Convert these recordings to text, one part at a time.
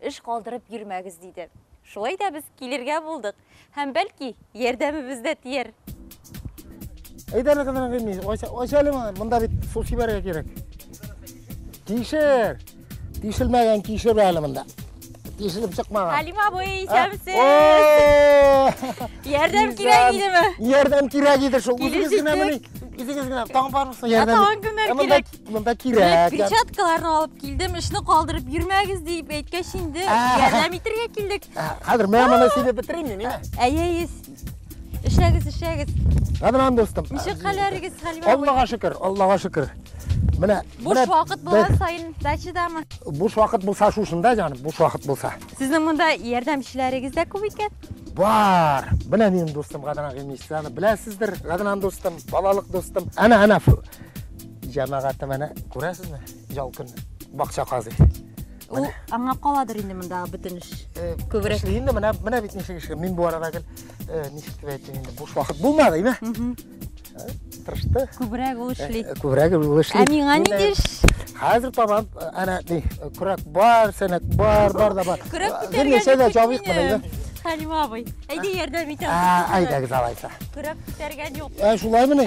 Эш калдырып йөрмәгез, диде. Шулай да без килергә булдык. Һәм, бәлки, ярдәмебез дә тияр. Әйдә әле, кызым, әңгәмә. Ач, ач әле моны. Монда бит су сибәргә кирәк. Тишер. Тишелмәгән тишер әле монда. Тишелеп чыкмаган. Хәлим абый, исәнмесез. Ярдәм кирәк идеме? Ярдәм кирәк иде шул. Үзегез генә мени. Үзегез генә таң бармысыз ярдәм? Таң кемнәр кирәк? Монда кирәк. Перчаткаларны алып килдем, эшне калдырып йөрмәгез дип әйткәч инде, ярдәм итәргә килдек. Хәзер мә моны сидеп бетерим мин, мина. Әйе, эшләгез, эшләгез. Гадран дустым. Ничек хәлләрегез, Хәлимә? Аллага шөкер, Аллага шөкер. Менә буш вакыт булган саен дачадамы? Буш вакыт булса шушында, җаным, буш вакыт булса. Сезнең монда ярдәмчеләрегез дә күп икән? Бар. Менә минем дустым Гадран Гыймисаны беләсездер, Гадран дустым, балалык дустым. Әнә, әнә Җәмәгате менә күрәсезме? Ял көн бакча казый. Ул аңа каладыр инде монда бөтен эш. Э, Күбрәк. Инде менә менә бит ничек эш. Мин бу арада гел э, ничек дип әйтим инде буш вакыт булмады, име? Э, тырышты. Күбрәк ул эшли. Күбрәк ул эшли. Ә миңа ни диш? Хәзер табам, әнә ни, күрәк бар, сәнәк бар, бар да бар. Күрәк күтәргән. Ничә дә җавык менә. Хәлима абый, әйдә ярдәм итәм. Әйдәгез алайса. Күрәк күтәргән юк. Ә шулаймыни?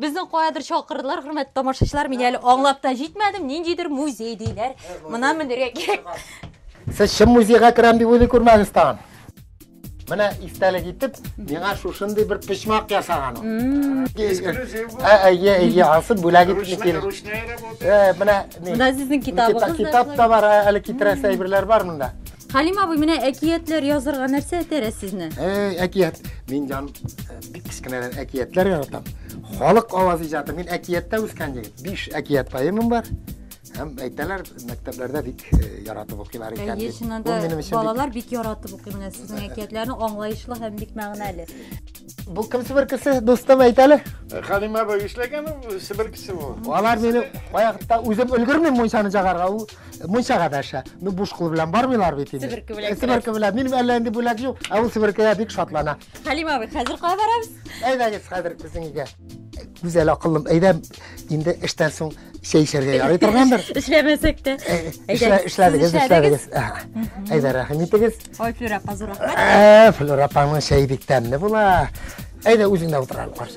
Безне каядыр чакырдылар, хөрмәтле тамашачылар. Мин әле аңлап та җитмәдем, ниндидер музей диләр. Мына менергә кирәк. Сез чын музейга керәм дип уйлый күрмәгез тагын. Менә истәлек итеп, миңа шушындый бер почмак ясаган ул. Эксклюзив бу. Ә, әйе, әйе, ансы бүләк итеп Ручная, кил. ручная работа. Э, менә ни? Менә сезнең китабыгыз да Китап та бар, ә, әле китерәсе әйберләр бар монда. Халим абый, менә әкиятләр язырга нәрсә этәрә сезне? Эй, әкият. Мин җан э, Бик кечкенәдән әкиятләр яратам. Халык аваз иҗаты. Мин әкияттә үскән егет. Биш әкият поэмам бар. Һәм әйтәләр, мәктәпләрдә бик э, яратып укыйлар икән. Әйе, дип. чыннан Бу да минем өчен бик- балалар бик яратып укый менә сезнең әкиятләрне, аңлаешлы һәм бик мәгънәле. Бу кем Себер кеше, дустым әйтәле. Халима апа эшләгән ул Себер кеше бу. Алар мине вакытта үзем өлгермим мунчаны чагарга, ул мунчага дәшә. Ну буш кул белән бармыйлар бит инде. Себерке белән Себерке белән. Минем әллә инде бүләк юк, ә ул себеркегә бик шатлана. Хәлим абый, хәзер кая барабыз? Әйдәгез хәзер безнең өйгә. Гүзәл акыллым, әйдә, инде эштән соң чәй эчәргә ярый торгандыр. Эшләмәсәк тә. Эшләдегез, эшләдегез. Әйдә, рәхим итегез. Ой, Флюр апа, зур рәхмәт. Флюр апаның чәй бик тәмле була. Әйдә, үзең дә утыралар.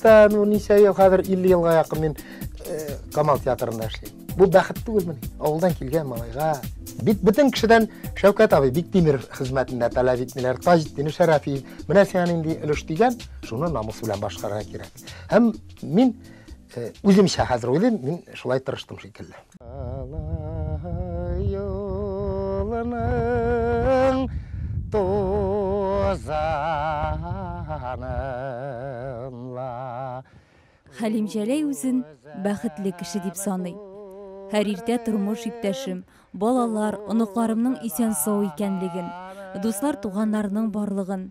Та, ну, ничә ел, хәзер 50 елга якын мин э, Камал театрында эшлим. Бу бәхет түгелме? Авылдан килгән малайга. Бит бөтен кешедән Шәүкәт абый Биктимир хезмәтендә таләп итмиләр. Таҗетдин Шәрәфи, менә сиңа нинди өлеш дигән, шуны намус белән башкарырга кирәк. Һәм мин э, үземчә хәзер уйлыйм, мин шулай тырыштым шикелле. Алай юлының тузанын ла. Хәлим Җәләй үзен бәхетле кеше дип саный. Һәр иртә тормыш иптәшем, балалар, оныкларымның исән-сау икәнлеген, дуслар-туганнарның барлыгын,